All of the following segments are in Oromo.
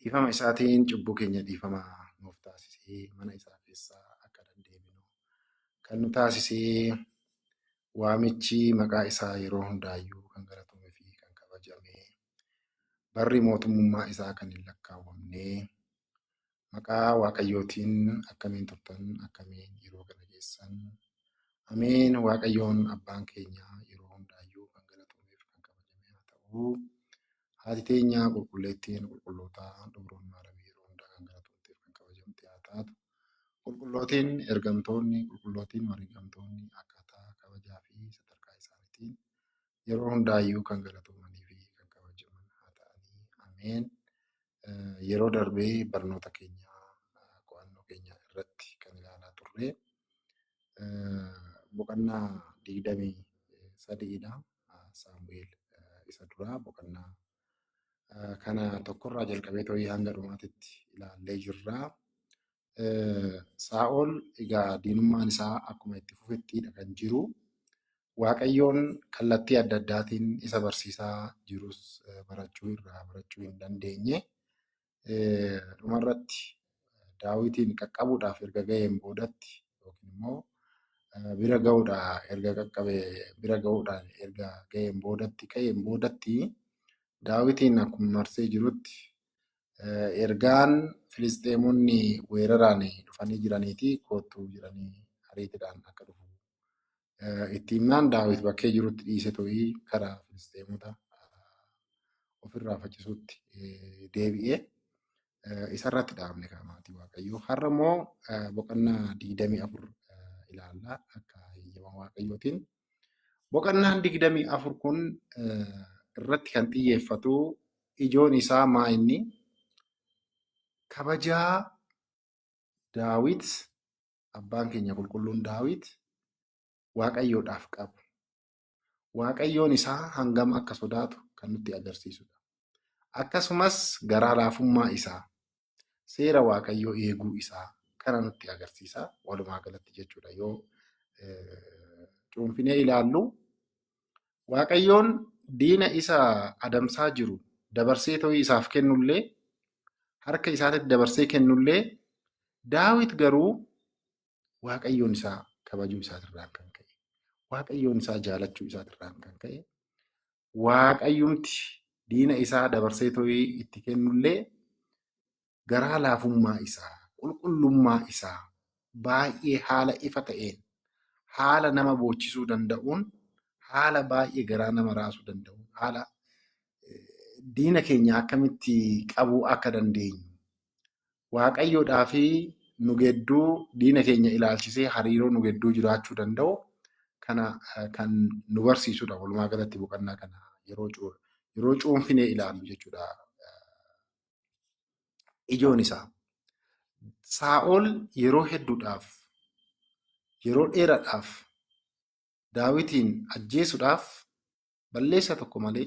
Dhiifama isaatiin cubbuu keenya dhiifama nuuf taasisee mana isaa keessaa akka dandeebinu kan nu taasisee waamichi maqaa isaa yeroo hundaayyuu kan galatamee fi kan kabajamee barri mootummummaa isaa kan hin lakkaawwamnee Maqaa Waaqayyootiin akkamiin turtan? Akkamiin yeroo kana geessan? Ameen. Waaqayyoon abbaan keenya yeroo hundaayyuu kan galatomeef kan kabajame haa ta'u. Haati teenya qulqulleettiin qulqullootaa Dubroo Maaramii yeroo hundaa kan galatomteef kan kabajamte haa taatu. Qulqullootiin ergamtoonni, qulqullootiin wareegamtoonni akkaataa kabajaa fi sadarkaa isaaniitiin yeroo hundaayyuu kan galatoomanii fi kan kabajaman haa ta'anii. Ameen. Yeroo darbee barnoota keenya qo'annoo keenya irratti kan ilaalaa turre boqonnaa digdamii sadiidha. Saamu'eel isa duraa boqonnaa kana tokkorraa jalqabee ta'ee hanga dhumaatitti ilaallee jirra. eh, Saa'ol egaa diinummaan isaa akkuma itti fufettiidha kan jiru. Waaqayyoon kallattii adda addaatiin isa barsiisaa jirus eh, barachuu irraa barachuu hin dandeenye. Eh, Dhumarratti daawitiin qaqqabuudhaaf erga ga'een boodatti yookiin immoo eh, bira ga'uudhaa erga qaqqabe bira ga'uudhaan erga ga'een boodatti ka'een boodatti daawitiin akkuma marsee jirutti Ergaan Filisxeemonni weeraraan dhufanii jiraniiti koottuu jiranii ariitiidhaan akka dhufu itti himnaan Daawit bakkee jirutti dhiise to'ii karaa Filisxeemota ofirraa faccisuutti deebi'ee isarratti dhaabne kaamaatii Waaqayyoo. Har'a immoo boqonnaa 24 ilaalla akka heyyama Waaqayyootiin Boqonnaan 24 kun irratti kan xiyyeeffatu ijoon isaa maa inni kabajaa Daawit abbaan keenya qulqulluun Daawit Waaqayyoodhaaf qabu. Waaqayyoon isaa hangam akka sodaatu kan nutti agarsiisudha. Akkasumas garaa laafummaa isaa seera waaqayyoo eeguu isaa kana nutti agarsiisa walumaa galatti jechuudha yoo cuunfinee ilaallu waaqayyoon diina isa adamsaa jiru dabarsee ta'uu isaaf kennullee harka isaatitti dabarsee kennullee daawit garuu waaqayyoon isaa kabajuu isaatirraan kan ka'e waaqayyoon isaa jaalachuu isaatirraan kan ka'e Waaqayyumti diina isaa dabarsee to'ii itti kennullee garaa laafummaa isaa, qulqullummaa isaa baay'ee haala ifa ta'een, haala nama boochisuu danda'uun, haala baay'ee garaa nama raasuu danda'uun, haala eh, diina keenya akkamitti qabuu akka dandeenyu Waaqayyoodhaa fi nu gedduu diina keenya ilaalchisee hariiroo nu gedduu jiraachuu danda'u kana kan nu barsiisudha. Walumaa galatti boqonnaa kana yeroo cu- yeroo cuunfinee ilaallu jechuudha. Ijoon isaa Saa'ol yeroo hedduudhaaf yeroo dheeraadhaaf Daawitiin ajjeesuudhaaf balleessaa tokko malee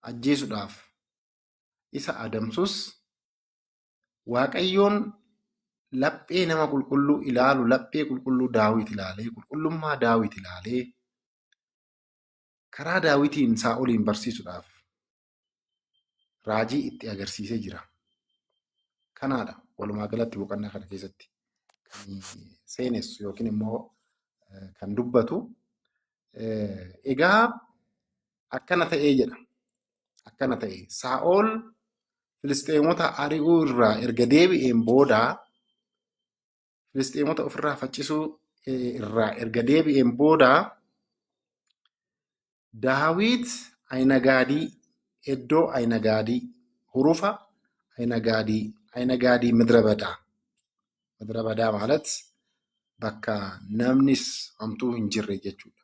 ajjeesuudhaaf isa adamsus Waaqayyoon laphee nama qulqulluu ilaalu laphee qulqulluu daawit ilaalee qulqullummaa daawit ilaalee karaa daawitiin saa'oliin barsiisuudhaaf raajii itti agarsiisee jira. Kanaadha walumaa galatti boqonnaa kana keessatti kan seenessu yookiin immoo eh, kan dubbatu. Eh, Egaa akkana ta'ee jedha. akkana ta'e. Saa'ol Filisxeemota ari'uu irraa erga deebi'een booda Filisxeemota ofirraa faccisuu eh, irraa erga deebi'een booda Daawit Ayinagaadii iddoo Ayinagaadii hurufa Ayinagaadii Ayinagaadii midra badaa midra badaa maalat bakka namnis hamtuu hin jirre jechuudha.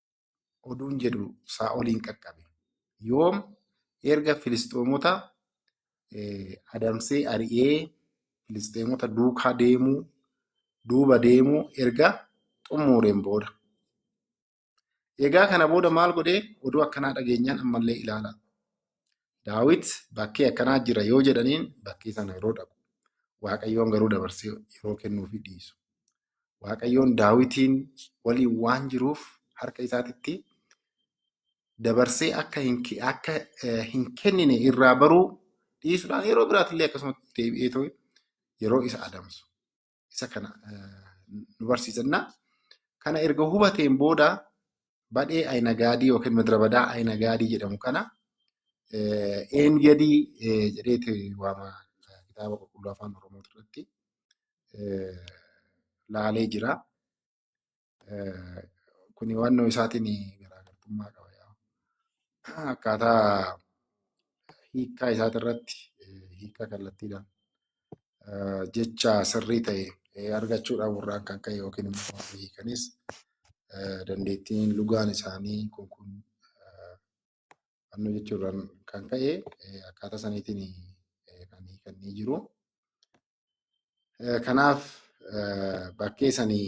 oduun jedhu Saa'oliin qaqqabe. Yoom erga Filisxeemota adamsee ari'ee Filisxeemota duukaa deemuu duuba deemuu erga xumureen booda. Egaa kana booda maal godhee oduu akkanaa dhageenyaan ammallee ilaala. Daawit bakkee akkanaa jira yoo jedhaniin bakkee sana yeroo dhaqu. Waaqayyoon garuu dabarsee yeroo kennuufi dhiisu. Waaqayyoon Daawitiin waliin waan jiruuf harka isaatitti dabarsee akka hin ke- akka eh, hin kennine irraa baruu dhiisuudhaan yeroo biraatillee akkasumatti deebi'ee ta'e yeroo isa adamsu isa kana eh, nu barsiisanna. Kana erga hubateen booda badhee Ayinagaadii yookiin Midrabadaa Ayinagaadii jedhamu kana eh, Een Gadii eh, jedheeti waama eh, kitaaba qulqulluu afaan Oromoo irratti. laalee jira. Kun hubannoo isaatiin garaagartummaa qaba. Akkaataa hiikaa isaati irratti hiika kallattiidhaan jecha sirrii ta'e argachuu dhabuurraan kan ka'e yookiin immoo hiikanis dandeettiin lugaan isaanii kun kun fannoo jechuurraan kan ka'e akkaataa saniitiin kan hiikanii jiru. Kanaaf bakkee sanii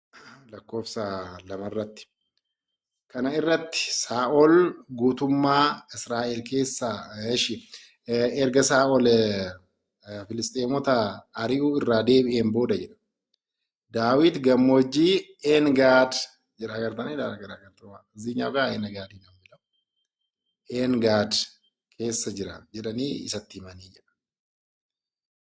lakkoofsa lamarratti. Kana irratti Saa'ol guutummaa Israa'el keessaa eshi erga Saa'ol Filisxeemota ari'uu irraa deebi'een booda jedha. Daawit gammoojjii Engaad jedha agartanii dha garaagartummaa. Ziinyaaf gaa Engaad hin jedhamu. Engaad keessa jira jedhanii isatti himanii jedha.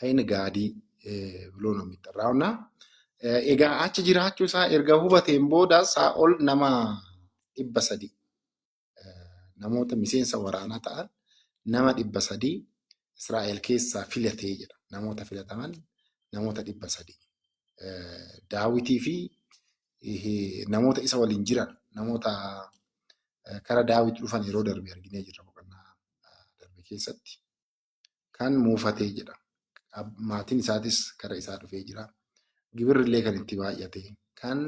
Ayin gaadii biloo no mitti raawna. Egaa achi jiraachuu isaa erga hubateen booda isaa ol nama dhibba sadii namoota miseensa waraanaa ta'an nama dhibba sadii Israa'el keessaa filatee jedha. Namoota filataman namoota dhibba sadii. Daawitii fi namoota isa waliin jiran namoota kara Daawit dhufan yeroo darbe arginee jirra boqonnaa darbe keessatti. kan muufatee jedha. Maatiin isaatis gara isaa dhufee jira. Gibirri illee kan itti baay'ate kan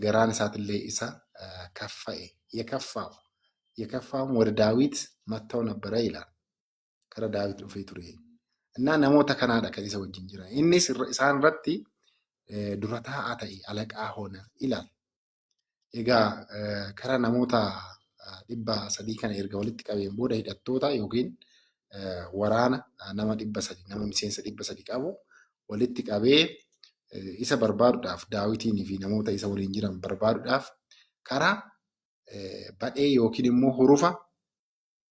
garaan isaatillee isa kaffa'e yekaffaaw yekaffaaw wada daawit matta'u nabbara ilaal gara daawit dhufee ture. Innaa namoota kanaadha kan isa wajjin jira. Innis isaan irratti dura taa'aa ta'e alaqaa hoona ilaal. Egaa kara namoota dhibba sadii kana erga walitti qabeen booda hidhattoota yookiin waraana nama dhibba sadii nama miseensa dhibba sadii qabu walitti qabee isa barbaaduudhaaf daawitiin fi namoota isa waliin jiran barbaaduudhaaf karaa badhee yookiin immoo hurufa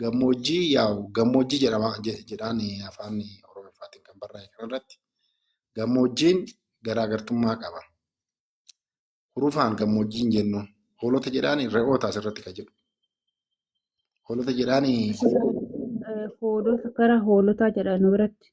Gammoojjii yaa'u gammoojjii jedhama jedhaan afaan Oromiffaatiin kan barraa'e kanarratti gammoojjiin garaagartummaa qaba. Hurufaan gammoojjii hin jennu. Hoolota jedhaan re'oota asirratti kan jedhu. Hoolota jedhaan Hoolota gara hoolotaa jedha nu biratti.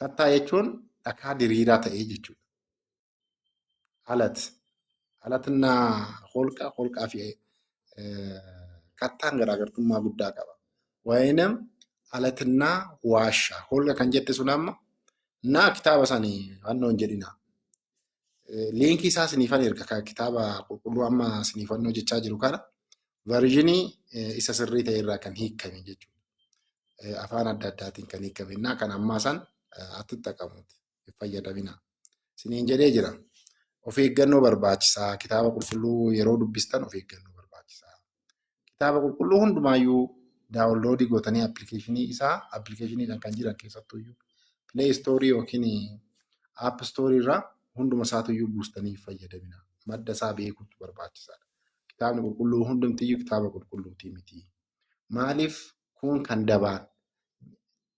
Kattaa jechuun dhakaa diriiraa ta'ee jechuudha. Alat. Alatna holqa, holqaa fi kattaan garaagartummaa guddaa qaba. Waayinam alatna waashaa. Holqa kan jette sun amma naa kitaaba sanii wannoon jedhina. Liinkii isaa siniifan erga kan kitaaba qulqulluu amma siniifannoo jechaa jiru kana versionii isa sirrii ta'e irraa kan hiikame jechuudha. Afaan adda addaatiin kan hiikame innaa kan ammaa san attittaqamuuti hin fayyadamina. Siniin jedhee jira. Of eeggannoo barbaachisaa kitaaba qulqulluu yeroo dubbistan of eeggannoo barbaachisaa. kitaaba qulqulluu hundumaayyuu daawunloodii gootanii appilikeeshinii isaa appilikeeshiniidhaan kan jiran keessattuyyuu pilee istoorii yookiin app istoorii irraa hunduma isaatuyyuu buustanii fayyadamina madda isaa beekuutu barbaachisaadha. Kitaabni qulqulluu hundumtiyyuu kitaaba qulqulluutii miti. Maaliif kun kan dabaan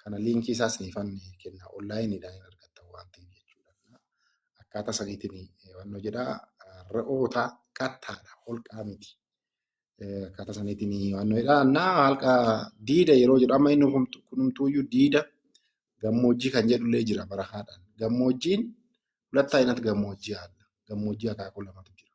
Kana liinkii isaa isiniifan kenna. Onlaayiniidhaan hin argattan waan ta'eef jechuudha. Akkaataa saniitiin wanno jedha re'oota kattaadha holqaa miti. Akkaataa saniitiin wanno jedha na halqa diida yeroo jedhu amma inni kunumtuuyyuu diida gammoojjii kan jedhullee jira bara haadhaan. Gammoojjiin hulatta inatti gammoojjii haadha. Gammoojjii akaakuu lamatu jira.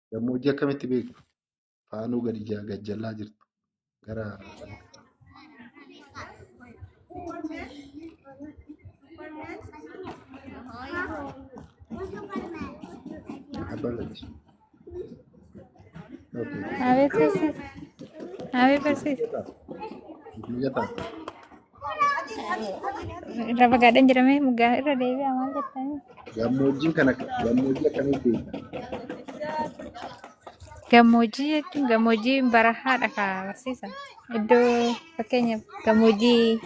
Gammoojjii akkamitti beektu? Faanuu gadi ja- gad jallaa jirtu. Gara abbaa gadis. Okay. Abeet barsiisa. Abeet barsiisa. Mijataa. Irra fagaadhan jedhamee mugaa irra deebi'a maal jettanii? Gammoojjiin kana gammoojjii akkamii beekta? Gammoojjii jechuun gammoojjii barahaadha ka barsiisa. Iddoo fakkeenyaaf gammoojjii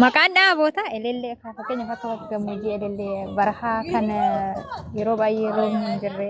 maqaan dhaaboota elellee ka fakkeenyaaf akka gammoojjii elellee barahaa kan eh, yeroo baay'ee roobni hin jirre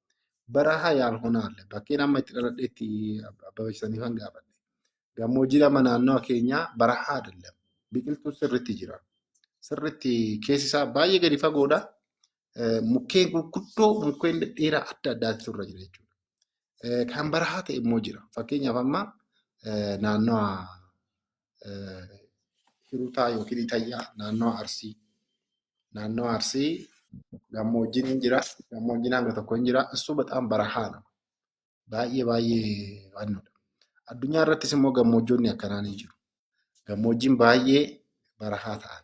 Baraha yaal honaalle bakkeen amma itti dhaladhetti abbabeessanii kan gaafadhe. Gammoojjii lama naannoo keenyaa barahaa dallam biqiltuu sirritti jira. Sirritti keessi isaa baay'ee gadi fagoodha. Eh, Mukkeen gurguddoo mukkeen dhedheeraa adda addaatu irra jira jechuudha. Eh, Kan barahaa ta'e immoo jira. Fakkeenyaaf amma eh, naannoo Hirutaa yookiin Itayyaa naannoo Arsii. Naannoo Arsii gammoojjiin hin jira. Gammoojjiin hanga tokko hin jira. Issu baxaan barahaa nama. Baay'ee baay'ee waannoodha. Addunyaa irrattis immoo gammoojjoonni akkanaa ni jiru. Gammoojjiin baay'ee barahaa ta'an.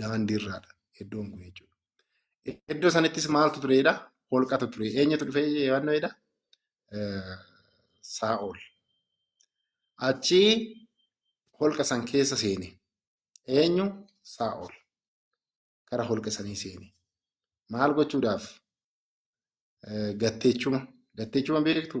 daandii irraadha iddoon kun jechuudha. Iddoo sanattis maaltu tureedha? Holqatu ture. Eenyutu dhufee yaadnoodha? Saa'ol. Achi holqa san keessa seene. Eenyu? Saa'ol. Gara holqa sanii seene. Maal gochuudhaaf? Gatteechuma. Gatteechuma beektu?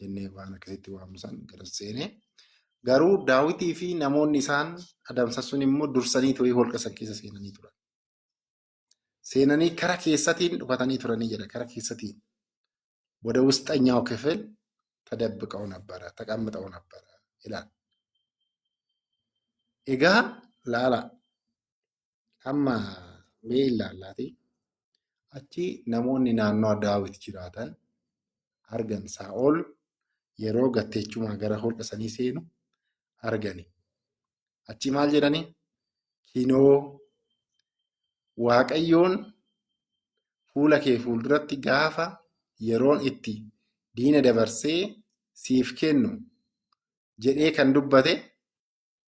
jennee waan akkasitti waamnu san garas seene. Garuu daawwitii fi namoonni isaan adamsan sun immoo dursanii turii holqa san keessa seenanii turan. Seenanii kara keessatiin dhufatanii turanii jedha kara keessatiin. Wada wusxanyaw kifil tadabbiqaw nabbara taqamxaw nabbara ilaal. Egaa laala Amma mee ilaallaatii achi namoonni naannoo Daawit jiraatan argan Saa'ol yeroo gatteechumaa gara holqa sanii seenu argani. Achi maal jedhani? Kinoo Waaqayyoon fuula kee fuulduratti gaafa yeroon itti diina dabarsee siif kennu jedhee kan dubbate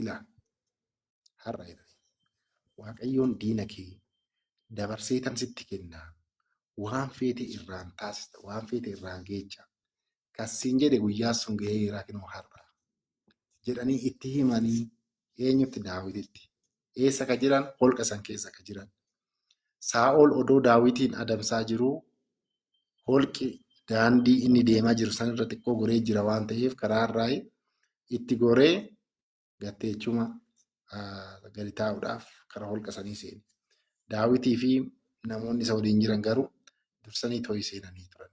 Ilaa har'a jedhani waaqayyoon diina kee dabarsee tan sitti kennaa waan feete irraan taasista waan feete irraan geecha kassiin jedhe guyyaa sun gahee irraa kinoo har'a jedhanii itti himanii eenyutti daawititti eessa ka jiran holqa san keessa ka jiran Saa'ol odoo Daawitiin adamsaa jiruu holqi daandii inni deemaa jiru sanirra xiqqoo goree jira waan ta'eef karaa irraa itti goree gatteechuma gadi taa'uudhaaf karaa holqa sanii seene. Daawitii fi namoonni isa waliin jiran garuu dursanii to'ii seenanii turan.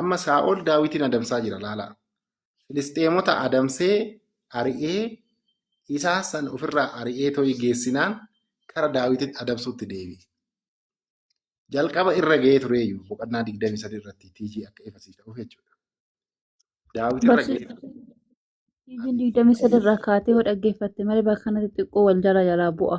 Amma Saa'ol Daawitiin adamsaa jira laalaa. Filisxeemota adamsee ari'ee isaa san ofirraa ari'ee to'ii geessinaan kara Daawitiin adamsuutti deebi'e. Jalqaba irra ga'ee tureeyyu boqonnaa 23 irratti TG akka ifa siif ta'uuf jechuudha. Daawit irra Barsi- ga'ee ture. Isin digdamii sadarraa kaatee yoo dhaggeeffatte malee bakka kanatti xiqqoo wal jala jalaa bu'a.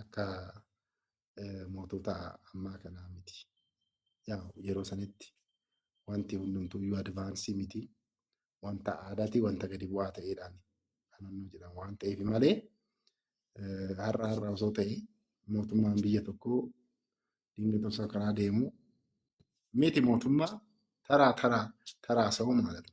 akka mootota ammaa kanaa miti. Yaa yeroo sanitti wanti hundumtuu iyyuu advaansii miti. Wanta aadaati, wanta gadi bu'aa ta'eedhaan kan hunduu jedhamu waan ta'eef malee har'a har'a osoo ta'e mootummaan biyya tokkoo dinqii osoo karaa deemu miti mootummaa taraa taraa taraa sa'uu maalatu.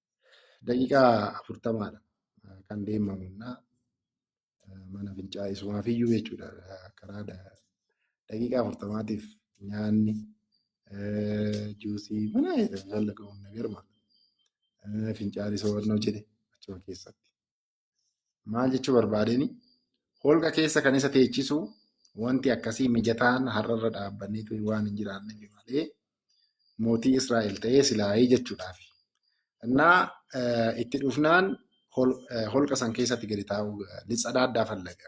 Daqiiqaa afurtamaadha kan deemamu innaa mana fincaa'aa isumaaf iyyuu jechuudha karaa da- daqiiqaa afurtamaatiif nyaanni eh, juusii mana jallaqamuun nagarma fincaa'aa isa hubannoo jedhe achuma keessatti. maal jechuu barbaadeen holqa keessa kan isa teechisu wanti akkasii mijataan har'arra dhaabbannee ture waan hin jiraanneef malee mootii Israa'el ta'ee silaayee jechuudhaaf. Innaa itti dhufnaan holqa san keessatti gadi taa'uu lixa dhaaddaa fallaga.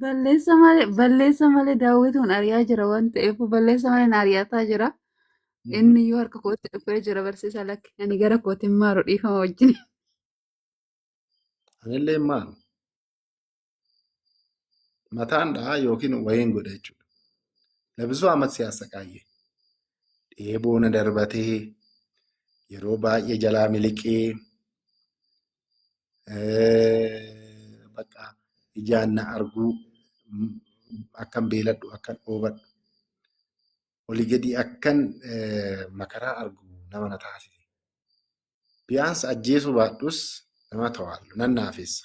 Balleessa malee balleessa malee daawwituun ari'aa jira waan ta'eef balleessa malee na ari'ataa jira. Inni iyyuu harka kootti dhufee jira barsiisaa lakki. Ani gara kootiin maaru dhiifama wajjin. Anillee maal mataan dhahaa yookiin wayeen godha jechuudha. Labisuu amma siyaasa qaayyee. Dheeboo na darbatee yeroo baay'ee jalaa miliqee bakka ijaan na arguu akkan beeladhu akkan dhoobadhu olii gadi akkan makaraa argu nama na taasise. Biyaansi ajjeesuu baadhus nama tawaallu nan naafessa.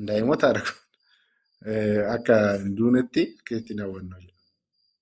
Daa'imota argu akka hin duunetti akka itti hin hawwannu jedha.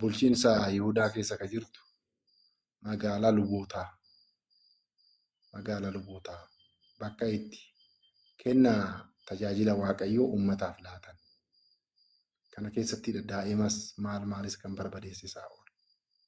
bulchiinsa Yihudaa keessa ka jirtu magaalaa lubootaa magaalaa lubootaa bakka itti kenna tajaajila waaqayyoo uummataaf laatan kana keessatti daa'imas maal maalis kan barbadeesse Saa'ol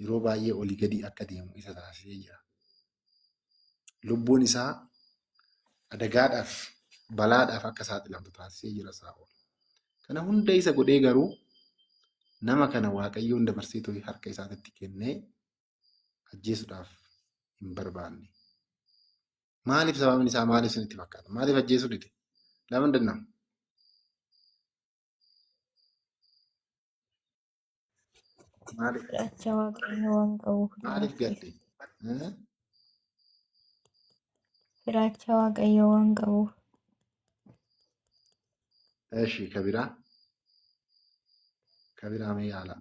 yeroo baay'ee olii gadi akka deemu isa taasisee jira. Lubbuun isaa adagaadhaaf balaadhaaf akka saaxilamtu taasisee jira Saa'ol. Kana hunda isa godhee garuu nama kana Waaqayyoon dabarsee too'ee harka isaatitti kennee ajjeesuudhaaf hin barbaanne. Maaliif sababni isaa maaliif isinitti fakkaata? Maaliif ajjeesuu dide? Lama danda'ama. Maaliif Fudhacha waaqayyo waan qabuuf maaliif du'aaf gatte? Eh? Fudhacha waaqayyo waan qabuuf Eshi kabiraa kabiraa mee yaala.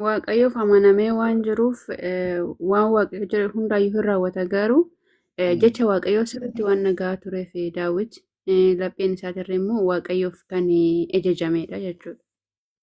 Waaqayyoof amanamee waan jiruuf eh, waan waaqayyo jedhe hundaayyuu hin raawwata garuu eh, Mm. jecha waaqayyoo sirriitti waan nagaa tureef eh, daawwit eh, lapheen isaatirra immoo waaqayyoof kan eh, ajajamedha jechuudha.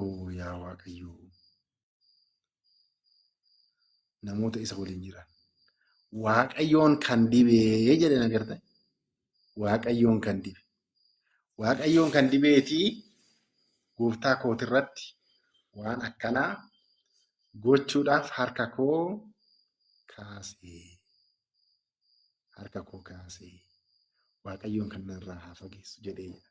Oo yaa Waaqayyo namoota isa waliin jiran. Waaqayyoon kan dibee jedhan agartan. Waaqayyoon kan dibe. Waaqayyoon kan dibeetii gooftaa kootirratti waan akkanaa gochuudhaaf harka koo kaasee. Harka koo kaasee. Waaqayyoon kan narraa haa fageessu jedhee jedha.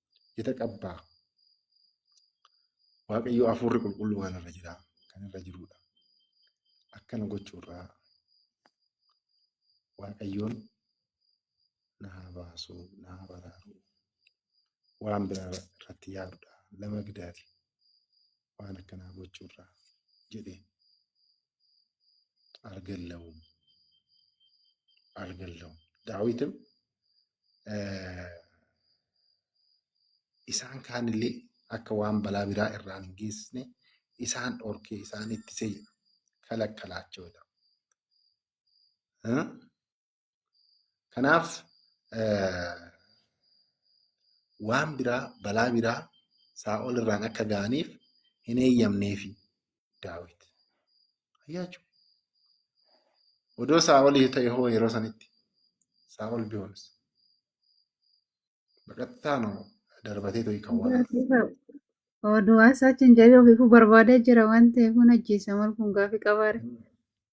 Ita qabbaa. Waaqayyo hafuurri qulqulluu waan irra jira. Kan irra jirudha. Akkana gochuurraa Waaqayyoon na haa baasu, na haa baraaru. Waan biraa irratti yaadudha. Lama gidaati. waan akkanaa gochuurraa jedhe algallawum algallawum daawitim isaan kaanillee akka waan balaa biraa irraan hin geessisne isaan dhorkee isaan ittisee jedha kalakkalaachoo jedhama. Kanaaf waan biraa balaa biraa saa'ol irraan akka ga'aniif hin eeyyamneefi daawit. Ayyaachuu. Odoo saa'olii ta'e hoo yeroo sanitti saa'ol bihoons. Baqattaa noo darbatee ta'e kan waan. Oduu waan saachiin jedhee ofiifuu barbaadee jira waan ta'eef kun ajjeesaman kun gaaffii qabaare.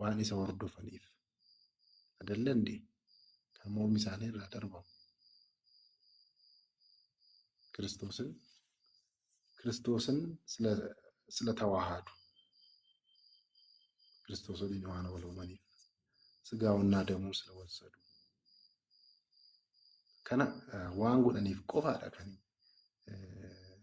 waan isa hordofaniif adallande kan mormi isaanii irraa darbamu kiristoosin kiristoosin sila sila tawaahaadu kiristoos waliin waan wal uumaniif sigaa onnaa damuu sila wal sadu kana eh, waan godhaniif qofaadha kan eh,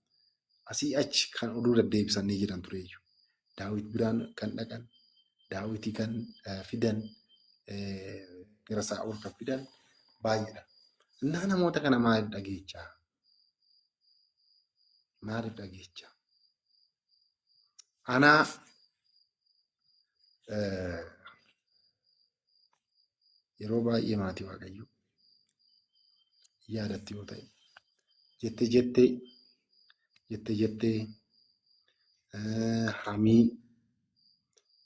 Asii achi kan oduu daddeebisan ni jiran tureeyyu. Daawit biraan kan dhaqan, daawiti kan eh, fidan, eh, gara Saa'ol kan fidan baay'eedha. Innaa namoota kana maaliif dhageechaa? Maaliif dhageechaa? Anaa eh, yeroo baay'ee maatii waaqayyo yaadatti yoo ta'e jette jettee jette jettee hamii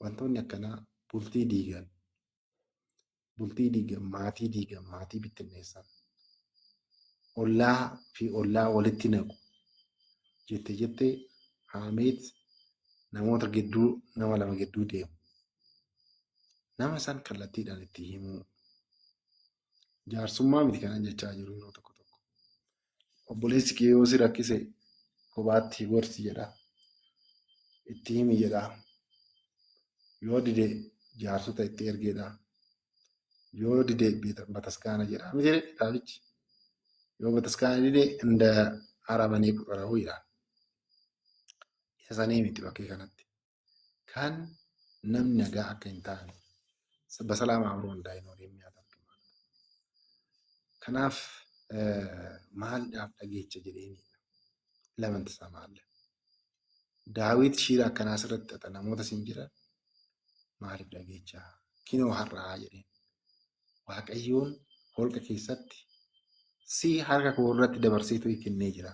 wantoonni akkanaa bultii diigan bultii diigan maatii diigan maatii bittinneessan ollaa fi ollaa walitti naqu jette jettee haameet namoota gidduu nama lama gidduu deemu nama san kallattiidhaan itti himuu. Jaarsummaa miti kanan jechaa jiru yeroo tokko tokko. Obboleessi kee yoo si rakkise kophaatti gorsi jedha. Itti himi jedha. Yoo dide jaarsota itti ergeedha. Yoo dide bataskaana jedha. Miti jedhe kitaabichi. Yoo bataskaana dide inda aramanii quxarahu jedha. Isa sanii miti bakkee kanatti. kan namni nagaa akka hin taane basalaamaa amroo hundaa'in waliin nyaata argama. Kanaaf maaliidhaaf dhageecha jedheeni lamanti isaa maalla. Daawit shiira akkanaa sirratti xaxa namoota siin jira maaliif dhageecha kinoo har'aa jedheen. Waaqayyoon holqa keessatti si harka koo irratti dabarseetu kennee jira.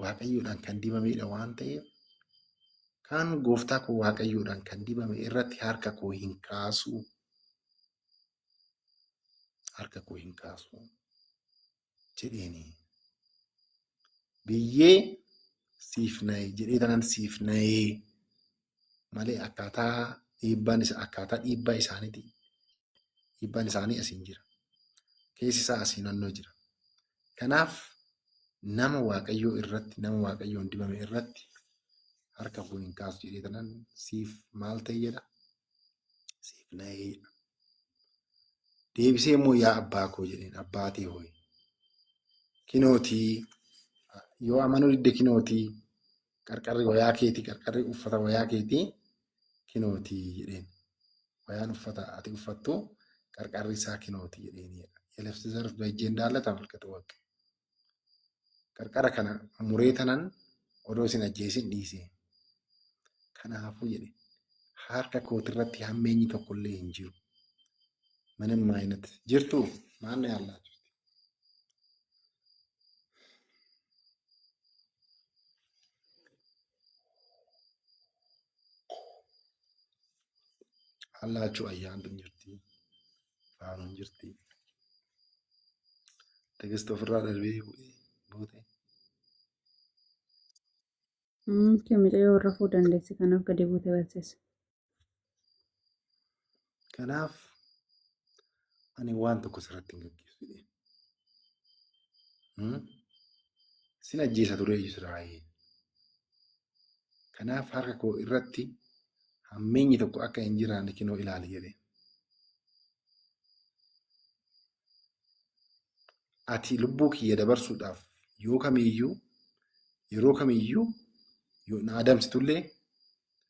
Waaqayyoodhaan kan dibamedha waan ta'eef kan gooftaa koo Waaqayyoodhaan kan dibame irratti harka koo hin kaasu. Harka koo hin kaasu jedheeni. Biyyee siif na'e jedhee tanan siif na'ee malee akkaataa dhiibbaan isa akkaataa dhiibbaa isaaniiti. Dhiibbaan isaanii asiin jira. Keessi isaa asii naannoo jira. Kanaaf nama waaqayyoo irratti nama waaqayyoon dibame irratti harka fuun hin kaasu jedhee tanan siif maal ta'e jedha siif na'ee jedha. Deebisee immoo yaa abbaa koo jedheen abbaa tee ho'i. Kinootii yoo amanuu didde kinootii qarqarri wayaa keetii qarqarri uffata wayaa keetii kinooti jedheen. Wayaan uffata ati uffattu qarqarri isaa kinooti jedheen. Yelefsi zarf bajjeen daala tamalkatu waqqe. Qarqara kana muree tanan odoo isin ajjeesin dhiise. Kanaafuu jedhe harka kootirratti hammeenyi tokkollee hin jiru. Manan maayinatti jirtu maanni haallaa jirti. Hallaachuu ayyaantu hin jirti. Faaruu hin jirti. Tekisti ofirraa darbee bu'ee buute. Kee mucayyoo warra fuu dandeessi kanaaf gadi buute barsiisa. Kanaaf ani waan tokko sirratti hin gaggeessu jedhee. Sin ajjeesa ture Israa'el. Kanaaf harka koo irratti hammeenyi tokko akka hin jiraanne kinoo ilaali jedhee. Ati lubbuu kiyya dabarsuudhaaf yoo kamiyyuu yeroo kamiyyuu yoo na adamsitullee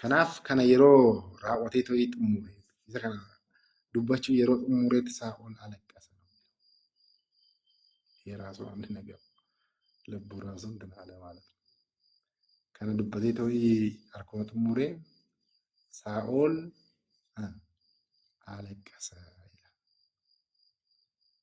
Kanaaf kana yeroo raawwatee ta'ee xumure isa kana dubbachuu yeroo xumureetti isaa ol alaqqasa. Yeeraasuu amri nagaa lubbuu raasuun kan haala maalatu. Kana dubbatee ta'ee harkuma xumure isaa ol alaqqasa.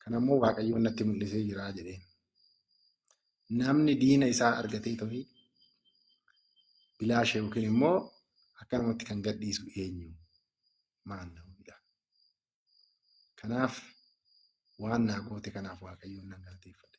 Kana immoo Waaqayyoon natti mul'isee jira jedheen. Namni diina isaa argatee ta'e bilaasha yookiin immoo akka namatti kan gadhiisu eenyu maal ta'uudha. Kanaaf waan naa goote kanaaf Waaqayyoon nan galateeffadha.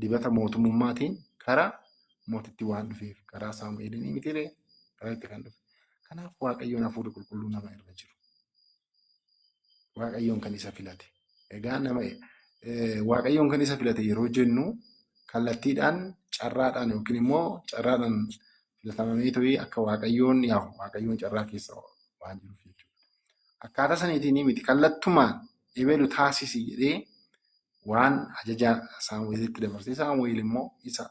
dibata mootummummaatiin karaa mootitti waan dhufeef karaa saamu'eelinii mitiree karaa itti kan dhufe kanaaf waaqayyoon hafuurri qulqulluu nama irra jiru waaqayyoon kan isa filate egaa nama eh, waaqayyoon kan isa filate yeroo jennu kallattiidhaan carraadhaan yookiin immoo carraadhaan filatamamee ta'ee akka waaqayyoon yaa'u waaqayyoon carraa keessa waan jiruuf jechuudha. Akkaataa saniitiin miti kallattumaan ebeelu taasisi jedhee waan ajaja Saamu'eelitti dabarsee Saamu'eel immoo isa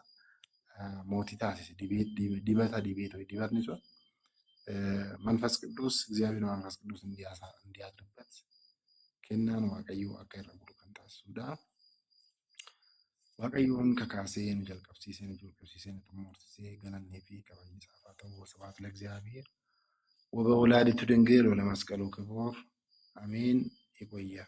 eh, mootii taasise dibee- dib- dibata dibee ture dibatni sun eh, manfas qidduus Egzaabeer manfas qidduus indiyaasaa indiyaa dubbat kennaan waaqayyoo akka irra bulu kan taasisudha. Waaqayyoon kakaasee nu jalqabsiisee nu jalqabsiisee nu xumursisee galannee fi kabajni isaaf haa ta'u wasabaat lagzaabiir waba walaaditu dengee lola masqaluu kiboor ameen iqoyyaa.